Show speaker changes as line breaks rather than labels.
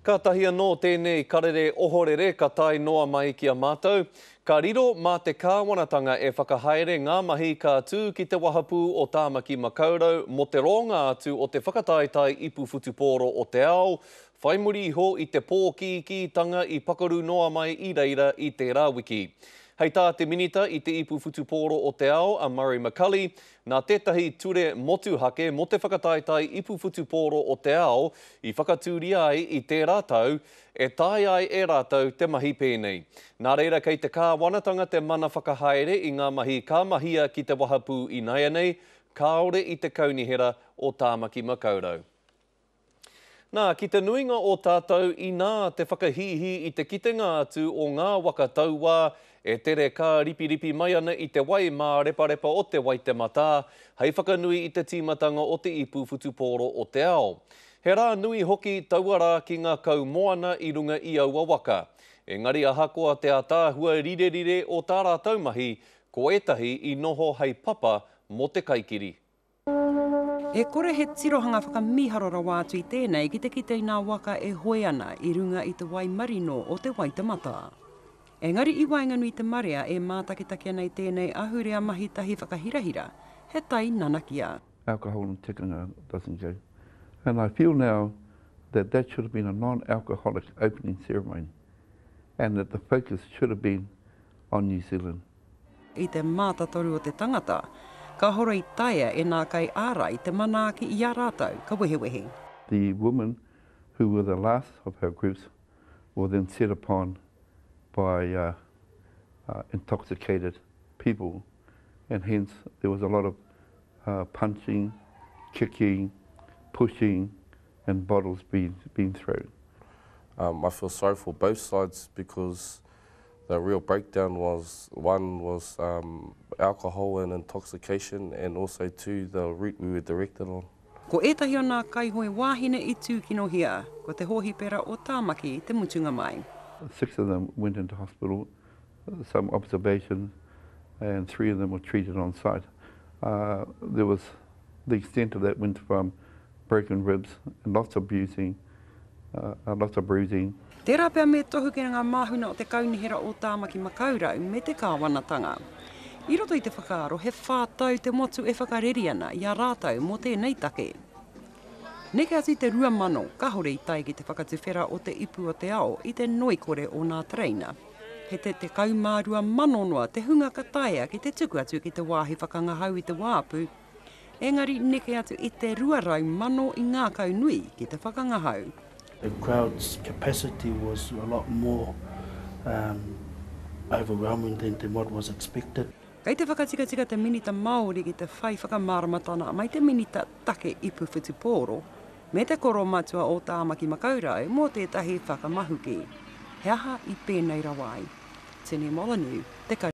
Kātahi anō tēnei karere ohorere ka tae noa mai ki a mātou. Ka riro mā te kāwanatanga e whakahaere ngā mahi ka tū ki te wahapū o Tāmaki Makaurau mō te roanga atu o te whakataetae ipu whutupōro o te ao, whai muri iho i te pōkīkītanga i pakaru noa mai i reira i tērā wiki. Hei tā te Minita i te Ipu Whutupōro o te Ao, a Murray McCully, Nā tētahi ture motuhake mō te whakataetae ipu whutupōro o te ao i whakatūria ai i tērā tau, e taea ai e rātou te mahi pēnei. Nā reira kei te Kāwanatanga te mana whakahaere i ngā mahi ka mahia ki te wahapū inaianei, kāore i te Kaunihera o Tāmaki Makaurau. Nā, ki te nuinga o tātou, inā te whakahīhī i te kitenga atu o ngā waka tauā e tere kāripiripi mai ana i te wai māreparepa o Te Waitematā, hei whakanui i te tīmatanga o te ipu whutupōro o te ao. He rā nui hoki taua rā ki ngā kaumoana i runga i aua waka. Engari ahakoa te ātaahua rirerire o tā rātou mahi, ko ētahi i noho hei papa mō te kaikiri.
E kore he tirohanga whakamīharo rawa atu i tēnei ki te kite i ngā waka e hoe ana i runga i te wai marino o Te Waitematā. Engari i waenganui i te marea e mātakitaki ana i tēnei ahurea mahi tahi whakahirahira, he tai nanakia. alcohol and tikanga
doesn't go and I feel now that that should have been a non-alcoholic opening ceremony and that the focus should have been on New Zealand. I te
mātatoru o te tangata, ka horo i taea e nā kai ārai te manaaki i a rātou, ka wehewehe. The woman
who were the last of her groups were then set upon by intoxicated people and hence there was a lot of punching, kicking, pushing and bottles being thrown. I
feel sorry for both sides because The real breakdown was, one was um alcohol and intoxication and also two the route we were directed on. Ko ētahi o nā
kaihoe wāhine i tūkinohia, ko te hōhipera o Tāmaki te mutunga mai. Six of them
went into hospital, some observations, and three of them were treated on site. There was, the extent of that went from Broken ribs, lots of bruising, uh, lots of bruising.
Tērā pea me tohu ki ngā māhuna o te Kaunihera o Tāmaki Makaurau me te Kāwanatanga. I roto i te whakaaro he whā tau te motu e whakareri ana i a rātou mō tēnei take. Neke atu i te rua mano, kahore i tae ki te whakatuwhera o te ipu o te ao i te noikore o nā tereina. He te te kau mā rua mano noa te hunga ka taea ki te tuku atu ki te wāhi whakangahau i te wāpu Engari neke atu i te rua rau mano i ngākau nui ki te whakangahau. The crowd's
capacity was a lot more um overwhelming than than what was expected. Kei te whakatikatika
te Minita Māori ki te whai whakamāramatana mai te Minita Take Ipu Whutupōro me te Koro Matua o Tāmaki Makaurau mō tētahi whakamahuki. He aha i pēnei rawa ai? Tini Molyneux, Te Kari.